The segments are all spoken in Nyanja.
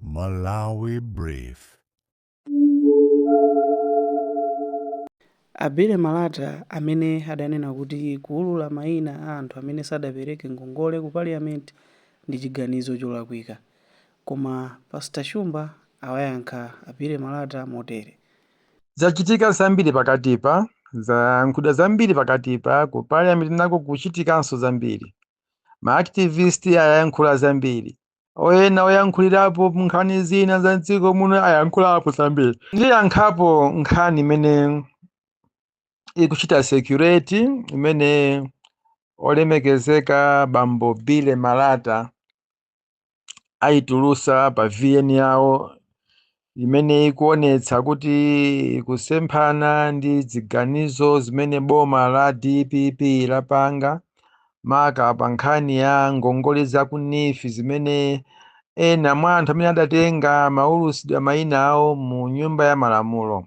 Malawi Brief. A Billy Malata amene adanena kuti kuulula maina a anthu amene sadapereke ngongole ku Parliament ndi chiganizo cholakwika. Koma Pastor Shumba awayankha a Billy Malata motere. Zachitika zambiri pakatipa, zayankhulidwa zambiri pakatipa, ku Parliament nako kuchitikanso zambiri. Ma activist ayankhula zambiri. Ena oyankhulirapo nkhani zina za mdziko muno ayankhulapo zambiri ndiyankhapo nkhani imene ikuchita circulate imene olemekezeka bambo Billy Malata ayitulusa pa VN yawo imene ikuonetsa kuti ikusemphana ndi ziganizo zimene boma la dpp lapanga maka pa nkhani ya ngongole za ku NEEF zimene ena mwa anthu amene adatenga amaulusidwa mayina awo mu Nyumba ya Malamulo.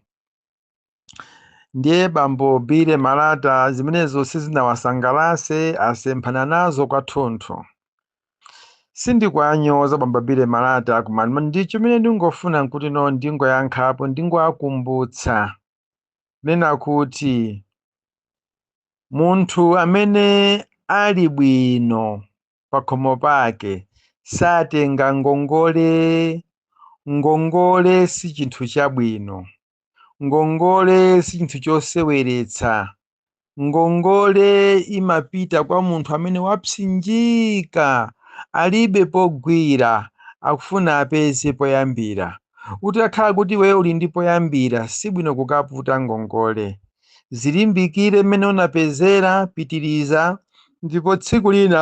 ndiye bambo Billy Malata zimenezo sizinawasangalase asemphana nazo kwathunthu sindikuanyoza bambo Billy Malata koma ma- ndi chimene ndingofuna nkuti no ndingoyankhapo ndingoakumbutsa kunena kuti munthu amene ali bwino pakhomo pake satenga ngongole ngongole si chinthu chabwino ngongole si chinthu choseweretsa ngongole imapita kwa munthu amene wapsinjika alibe pogwira akufuna apeze poyambira utakhala kuti iweyo uli ndi poyambira sibwino kukaputa ngongole zilimbikire mmene unapezera pitiriza ndipo tsiku lina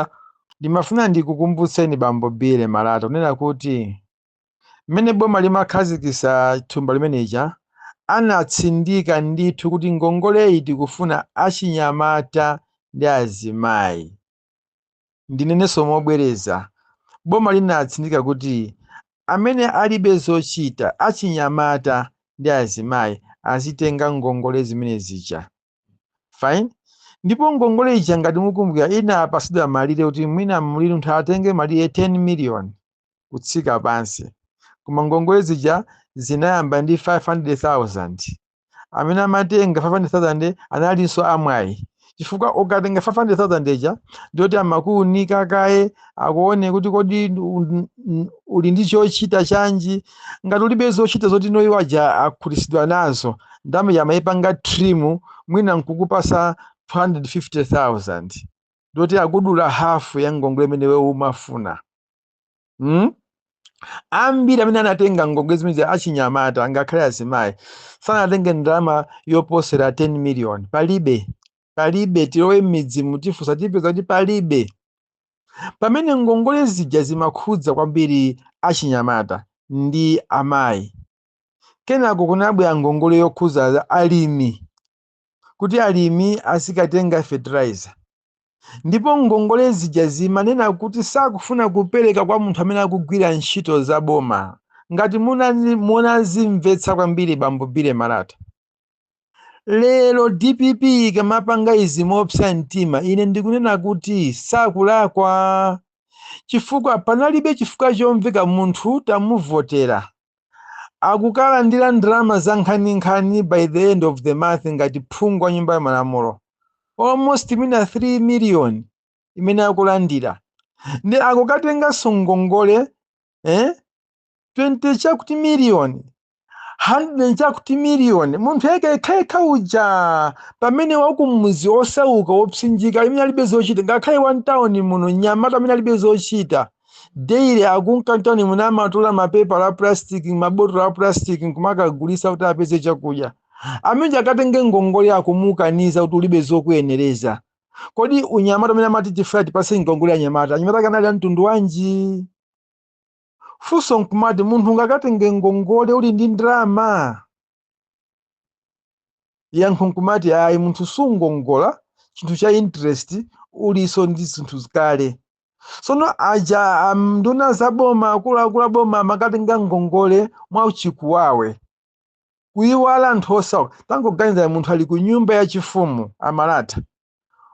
ndimafuna ndikukumbutseni bambo Billy Malata kunena kuti mmene boma limakhazikisa thumba limeneja anatsindika ndithu kuti ngongoleyi tikufuna achinyamata ndi azimayi. Ndinenenso mobwereza, boma linatsindika kuti amene alibe zochita, achinyamata ndi azimayi, azitenga ngongole zimene zija. fine ndipo ngongole ija ngati mukumbukira inapasidwa malire kuti mwina muliri munthu atenge malire 10 million kutsika pansi koma ngongole zija zinayamba ndi 500000 amene amatenga 500000 analinso amwayi chifukwa ukatenga 500000 ija ndiyoti amakuunika kaye akuone kuti kodi u- u- uli ndi chochita chanji ngati ulibe zochita zoti iwo aja akhutitsidwa nazo ndalama ija amayipanga trim mwina nkukupasa 250000 ndiye kuti akudula hafu ya ngongole imene iwe umafuna mm? ambiri amene anatenga ngongole zimene achinyamata ngakhale azimayi sanatenge ndalama yoposera 10 million palibe palibe tilowe m'midzimu tifunse tipeza kuti palibe pamene ngongole zija zimakhudza kwambiri achinyamata ndi amayi kenako kunabwera ngongole yokhudza alimi kuti alimi azikatenga fertilizer ndipo ngongole zija zimanena kuti sakufuna kupereka kwa munthu amene akugwira ntchito za boma ngati munani- munazimvetsa kwambiri bambo bile malata lero dpp ikamapanga izi mopsa mtima ine ndikunena kuti sakulakwa chifukwa panalibe chifukwa chomveka munthu tamuvotera akukalandira ndalama za nkhaninkhani by the end of the month ngati phungu wa nyumba ya malamulo almost mwina 3 million imene akulandira ndiye akukatenganso ngongole eh? 20 chakuti miliyoni 100 chakuti miliyoni munthu yekha yekhayekha uja pamene wakumudzi wosauka wopsinjika amene alibe zochita ngakhale wa mtawuni muno mnyamata amene alibe zochita daily akunka mtawuni muno amatola mapepala a plastic mabotolo a plastic nkumakagulitsa kuti apeze chakudya ameneyo akatenge ngongole akumukaniza kuti ulibe zokuyenereza kodi unyamata umene amati tifuna tipase ngongole anyamata anyamata ake anali a mtundu wanji funso nkumati munthu ungakatenge ngongole uli ndi ndalama yankho nkumati ayi munthu sungongola chinthu cha interest ulinso ndi zinthu zikale tsono aja am, nduna za boma akuluakulu a boma amakatenga ngongole mwa chikuwawe kuiwala anthu osauka tangoganizani munthu ali ku nyumba yachifumu a malata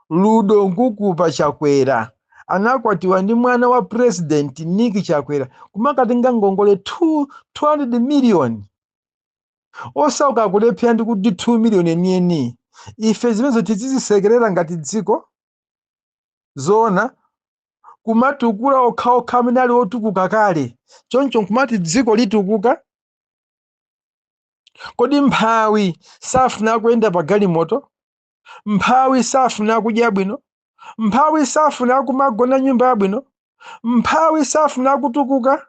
ludo nkukupa chakwera anakwatiwa ndi mwana wa president nick chakwera kumakatenga ngongole 2 200 million osauka akulephera ndi kuti 2 million enieni ife zimenezo tizizisekerera ngati dziko zoona kumatukula okhaokha amene ali otukuka kale choncho nkumati dziko litukuka kodi mphawi safuna kuyenda pa galimoto Mphawi safuna kudya bwino. Mphawi safuna kumagona nyumba yabwino. Mphawi safuna kutukuka.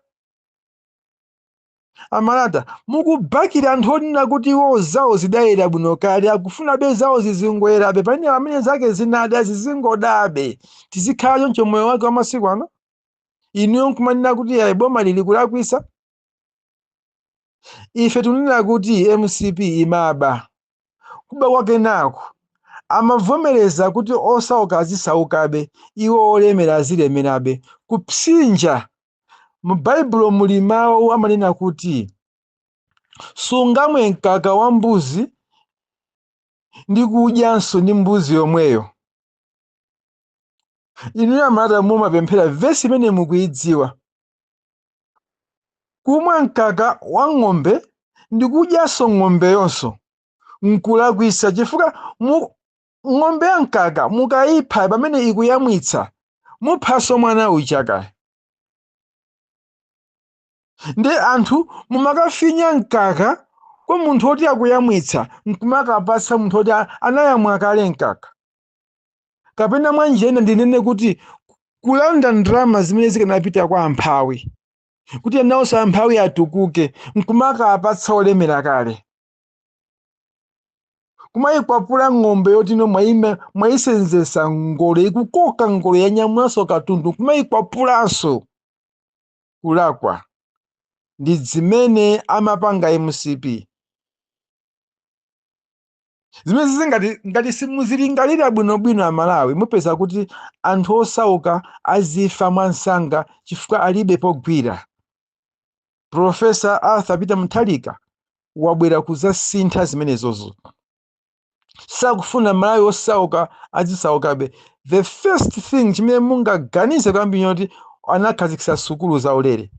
A Malata, mukubakira anthu onena kuti iwo zawo zidayera bwino kale, akufunabe zawo zizingoyerabe, pamene amene zake zinada zizingodabe. Tizikhala choncho moyo wake wa masiku ano? Inuyo nkumanena kuti ayi bomali likulakwitsa? ife tinena kuti mcp imaba kuba kwake nako amavomereza kuti osauka azisaukabe iwo olemera azilemerabe kupsinja mu baibulo muli mawu amanena kuti sungamwe mkaka wa mbuzi ndi kudyanso ndi mbuzi yomweyo inuyo amalata mumapemphera vesi imene mukuidziwa Kumwa mkaka wa ng'ombe ndi kudyanso ng'ombeyo'nso n'kulakwitsa chifukwa ng'ombe ya mkaka mukaipha pamene ikuyamwitsa, muphanso mwana uja kaye. Nde anthu mumakafinya mkaka kwa munthu woti akuyamwitsa n'kumakapatsa munthu woti anayamwa kale mkaka. kapena mwa njira ina ndinene kuti kulanda ndalama zimene zikanapita kwa amphawi kuti nawonso amphawi atukuke nkumakapatsa olemera kale kumayikwapula ng'ombe yoti inu mwayisenzesa ngolo ikukoka ngolo yanyamulanso katundu nkumayikwapulanso kulakwa ndi zimene amapanga mcp zimenezi ngati ngati simuzilingalira bwinobwino amalawi mupeza kuti anthu osauka azifa mwamsanga chifukwa alibe pogwira profesa arthur peter mutharika wabwera kuzasintha zimenezozo sakufuna malawi osauka azisaukabe the first thing chimene mungaganize kwambiri n'choti anakhazikitsa sukulu zaulere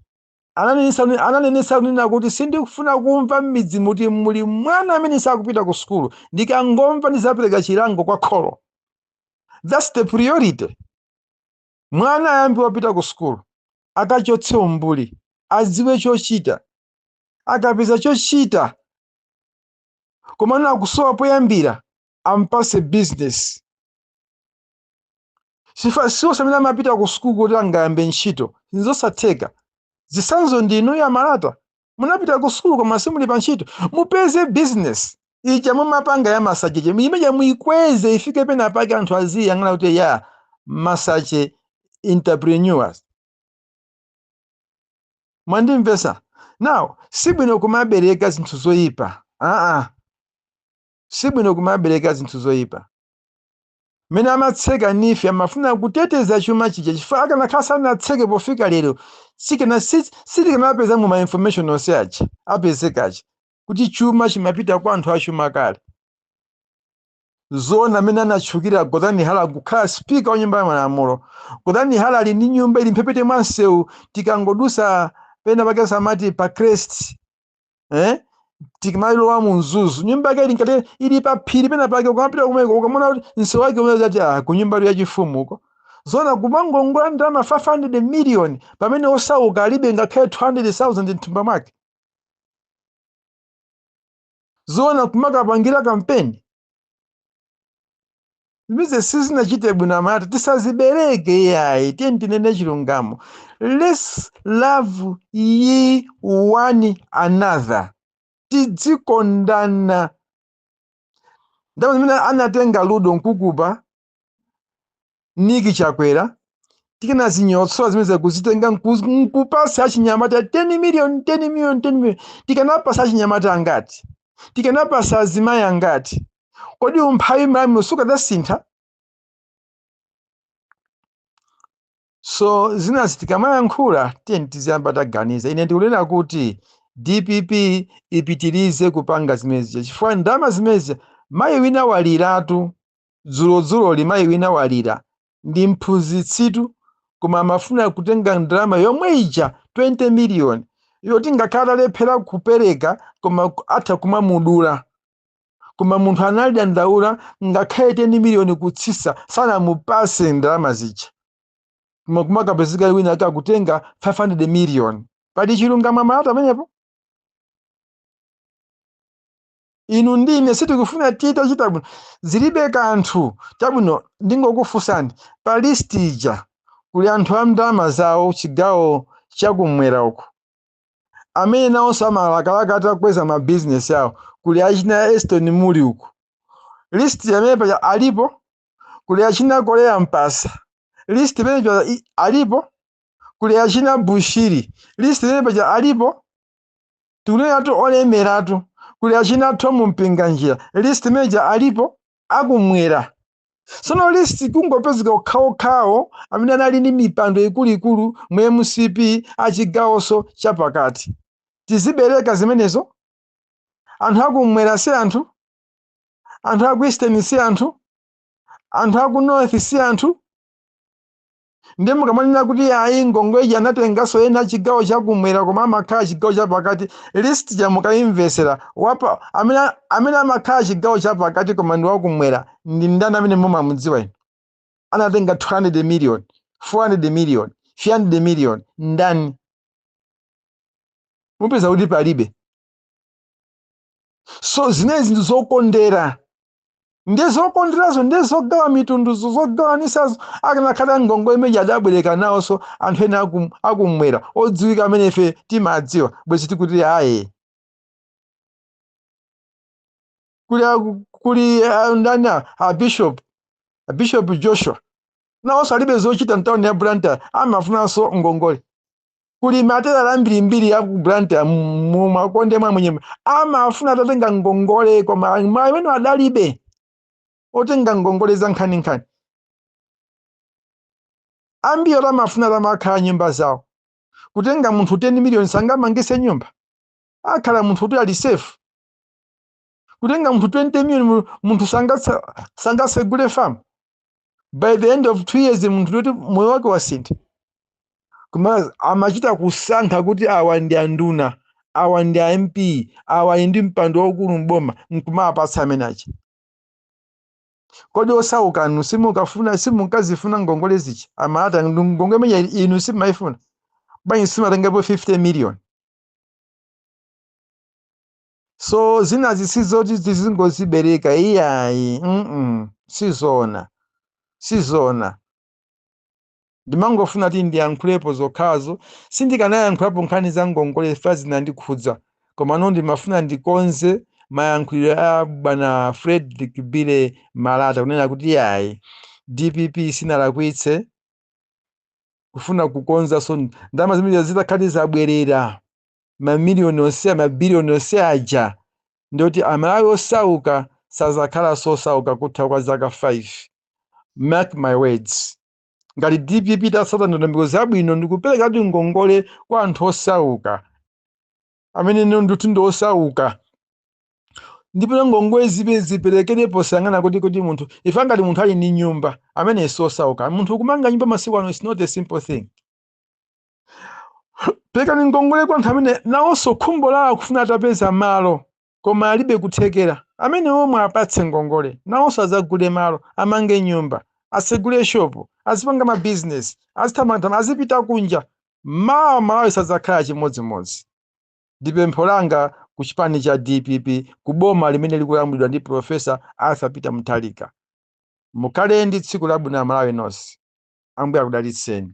Ananenetsa kunena kuti, Sindikufuna kumva m'midzimu muti muli mwana amene sakupita ku sukulu. Ndikangomva ndidzapereka chilango kwa kholo. That's the priority. Mwana ayambe wapita ku sukulu, akachotse umbuli, adziwe chochita. Akapeza chochita komano akusowa poyambira, ampatse business. si onse amene amapita ku sukulu kuti angayambe ntchito nzosatheka zitsanzo ndi inuyo amalata munapita ku sukulu koma simuli pa ntchito mupeze business ija mumapanga ya masache ija imeja muikweze ifike pena pake anthu aziyang'ana kuti ya masache entrepreneurs mwandimvesa now sibwino kumabereka zinthu zoyipa sibwino kumabereka zinthu zoyipa mmene amatseka neef amafuna kuteteza chuma chija chifukwa akanakhala sanatseke pofika lero sikana si- sitikanapeza mu ma information onse aja apezeka aja kuti chuma chimapita kwa anthu achuma kale zona mmene anatchukira gotani hara kukhala spika wa nyumba ya malamulo gotani hara ali ndi nyumba ili mphepete mwa msewu tikangodusa pena pake samati pa crest eh? tikamalowa mu mzuzu nyumba yake ili ngati ili pa phiri pena pake ukamapita kumeko ukamona kuti msewu wake umene zati ah, ku nyumba ya chifumu uko zona kumangongola ndalama 500 million pamene osauka alibe ngakhale 200,000 mthumba mwake zona kumakapangira kampeni zimenezi sizinachite bwino amalawi tisazibereke iyayi tiyeni tinene chilungamo let's love ye one another tidzikondana ndalama zimene anatenga rudo mkukupa Nick Chakwera tikanazinyotsola zimenezija kuzitenga nku- nkupasa achinyamata 10 million 10 million 10 million tikanapasa achinyamata angati tikanapasa azimayi angati kodi umphawi mmalawi muno sukadasintha so zinazi tikamayankhula tiyeni tiziyamba taganiza ine ndikunena kuti dpp ipitirize kupanga zimenezija chifukwa ndalama zimenezi mayi wina waliratu Dzulodzuloli mayi wina walira. Ndi mphunzitsitu koma amafuna kutenga ndalama yomwe ija, 20 million, yoti ngakhale atalephera kupereka koma atha kumamudula. Koma munthu analidandaula ngakhale 10 million kutsitsa sanamupatse ndalama zija. Koma kumakapezeka wina ake akutenga 500 million. Pali chilungamo amalawi pamenepo? inu ndi ine sitikufuna titachita bwino zilibe kanthu chabwino ndingokufunsani pa list ija kuli anthu a ndalama zawo chigawo chakumwera uku amene nawonso amalakalaka atakweza mabizinesi awo kuli achina leston mulli uku list imene paja alipo kuli achina korea mpatsa list imene paja i- alipo kuli achina bushiri list imene paja alipo tikunenatu olemeratu kuli achina Thom Mpinganjira list imene ija alipo akumwera sono list kungopezeka okhaokhawo amene anali ndi mipando ikuluikulu mu mcp achigawoso chapakati tizibereka zimenezo anthu akumwera si anthu anthu aku eastern si anthu anthu aku north si anthu ndiye mukamanena kuti ayi ngongweji anatenganso ena chigawo chakumwera koma amakhala chigawo chapakati list ija mukayimvesera wapa amene amakhala chigawo chapakati koma ndi wakumwera ndi ndani amene mumamudziwa inu anatenga 200 million 400 million 300 million ndani mupeza kuti palibe so zimenezi ndi zokondera nde zokonderazo nde zogawa mitunduzo zogawanisazo akanakhala ngongole imene adabwereka nawonso anthu ena akum- akumwera odziwika amene ife timadziwa bwezi tikuti ayi kuli aku- kuli ah, ndani a- a bishop a bishop joshua nawonso alibe zochita mtawuni ya blantyre amafunanso ngongole kuli matelala ambirimbiri ya ku blantyre mu makonde mwa amwenye amafuna atatenga ngongole koma amene adalibe otenga ngongole za nkhaninkhani ambiri oti amafuna atamakhala nyumba zawo kutenga munthu 10 miliyoni sangamangise nyumba akhale munthu kuti ali safe kutenga munthu 20 million mu- munthu sangatsa- sangasegule farm by the end of two years munthu uti moyo wake wasintha koma amachita kusankha kuti awa ndi anduna awa ndi a mp awa ali ndi mpando waukulu mboma nkumawapatsa amene aja kodi osauka inu simukafuna simukazifuna ngongole zija amalata ndi ngongole imene inu simayifuna bwanji simatengapo 50 so zinazi sizoti tizingozibereka iyayi mm sizona sizona ndimangofuna kuti ndiyankhulepo zokhazo sindikanayankhulapo nkhani za ngongole chifukwa zinandikhudza komano ndimafuna ndikonze mayankhulidwe a bwana frederick bile malata kunena kuti iyayi dpp sinalakwitse kufuna kukonza so ndalama zimene zitakhala kuti zabwerera mamiliyoni onse mabiliyoni onse aja nditi amalawi osauka sazakhalanso osauka kutha kwa zaka 5 mark my words ngati dpp itasata ndondomeko zabwino ndikupereka kuti ngongole kwa anthu osauka amene ndithu ndi osauka ndipo ngongole zizipereke posayang'ana kuti kuti munthu ife ngati munthu ali ndi nyumba amene si osauka munthu kumanga nyumba masiku ano is not a simple thing perekani ngongole kwa anthu amene nawonso khumbo lawo akufuna atapeza malo koma alibe kuthekera amene omwe apatse ngongole nawonso adzagule malo amange nyumba atsegule shopu azipanga mabizinesi azithamathama azipita kunja mawa malawi sadzakhala chimodzimodzi ndi pempho langa ku chipani cha dpp ku boma limene likulamulidwa ndi profesa arthur peter mutharika mukhale ndi tsiku labwino amalawi nonse ambuye akudalitseni